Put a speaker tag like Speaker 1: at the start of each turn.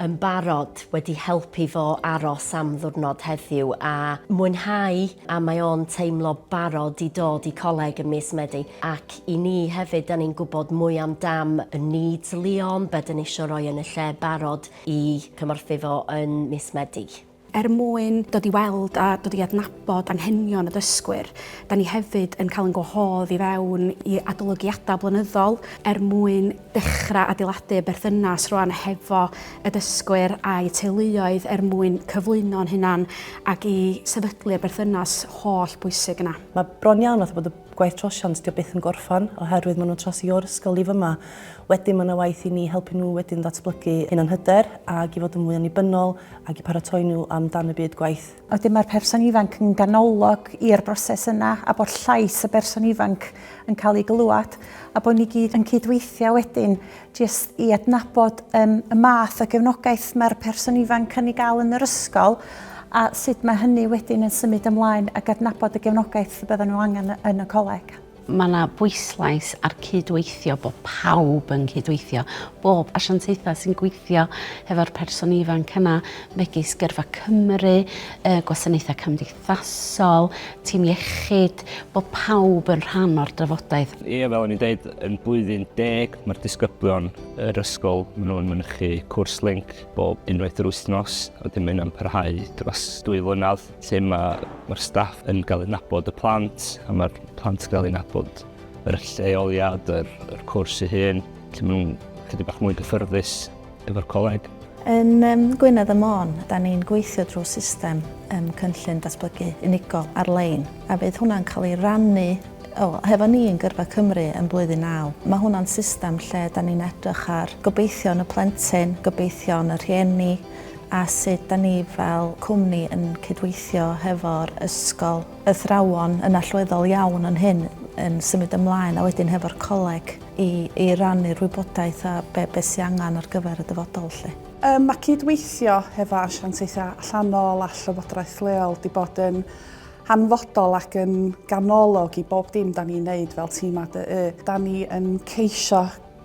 Speaker 1: yn barod wedi helpu fo aros am ddiwrnod heddiw a mwynhau a mae o'n teimlo barod i dod i coleg ym mis Medi ac i ni hefyd 'da ni'n gwybod mwy am dam y needs Leon be 'da ni isio roi yn y lle barod i cymorthu fo yn mis Medi. Er mwyn
Speaker 2: dod i weld a dod i adnabod anghenion y dysgwyr, da ni hefyd yn cael ein gwahodd i fewn i adolygiadau blynyddol er mwyn dechrau adeiladu y berthynas rwan hefo y dysgwyr a'u teuluoedd er mwyn cyflwyno'n hunan ac i sefydlu'r berthynas holl bwysig yna. Mae bron iawn fatha bod y
Speaker 3: gwaith trosiant 'di o byth yn gorffan oherwydd maen nhw'n trosi o'r ysgol i fyma. Wedyn mae 'na waith i ni helpu nhw wedyn ddatblygu hunanhyder ac i fod yn fwy annibynnol ac i paratoi nhw am dan y byd gwaith. Wedyn mae'r person
Speaker 4: ifanc yn ganolog i'r broses yna a bod llais y berson ifanc yn cael ei glywed a bod ni gyd yn cydweithio wedyn jyst i adnabod um, y math o gefnogaeth mae'r person ifanc yn ei gael yn yr ysgol a sut mae hynny wedyn yn symud ymlaen ac adnabod y gefnogaeth y bydden nhw angen yn y coleg. Mae yna
Speaker 5: bwyslais ar cydweithio, bod pawb yn cydweithio, bob asiantaethau sy'n gweithio hefo'r person ifanc yna, megis Gyrfa Cymru, gwasanaethau cymdeithasol, tîm iechyd, bod pawb yn rhan o'r drafodaeth. Ie, fel o'n i'n dweud,
Speaker 6: yn blwyddyn deg mae'r disgyblion yr ysgol, maen nhw'n mynychu cwrs link bob unwaith yr wythnos, a wedyn mae hynna'n parhau dros dwy flynedd. lle mae'r ma staff yn cael ei nabod y plant, a mae'r plant yn cael ei nabod yr lleoliad, yr, yr cwrs ei hun, lle maen nhw'n chydig bach mwy gyffyrddus efo'r coleg. Yn um,
Speaker 7: Gwynedd y Môn, da ni'n gweithio drwy system um, cynllun datblygu unigol ar-lein, a bydd hwnna'n cael ei rannu o, hefo ni yn Gyrfa Cymru yn blwyddyn naw. Mae hwnna'n system lle da ni'n edrych ar gobeithion y plentyn, gobeithion y rhieni, a sut 'da ni fel cwmni yn cydweithio hefo'r ysgol. Athrawon yn allweddol iawn yn hyn yn symud ymlaen a wedyn hefo'r coleg i i rannu'r wybodaeth a be' be' sy angan ar gyfer y dyfodol 'lly. Yym ma'
Speaker 2: cyd-weithio hefo asiantaethau allanol a llywodraeth leol 'di bod yn hanfodol ac yn ganolog i bob dim 'da ni'n neud fel tîm ADY. 'Da ni yn ceisio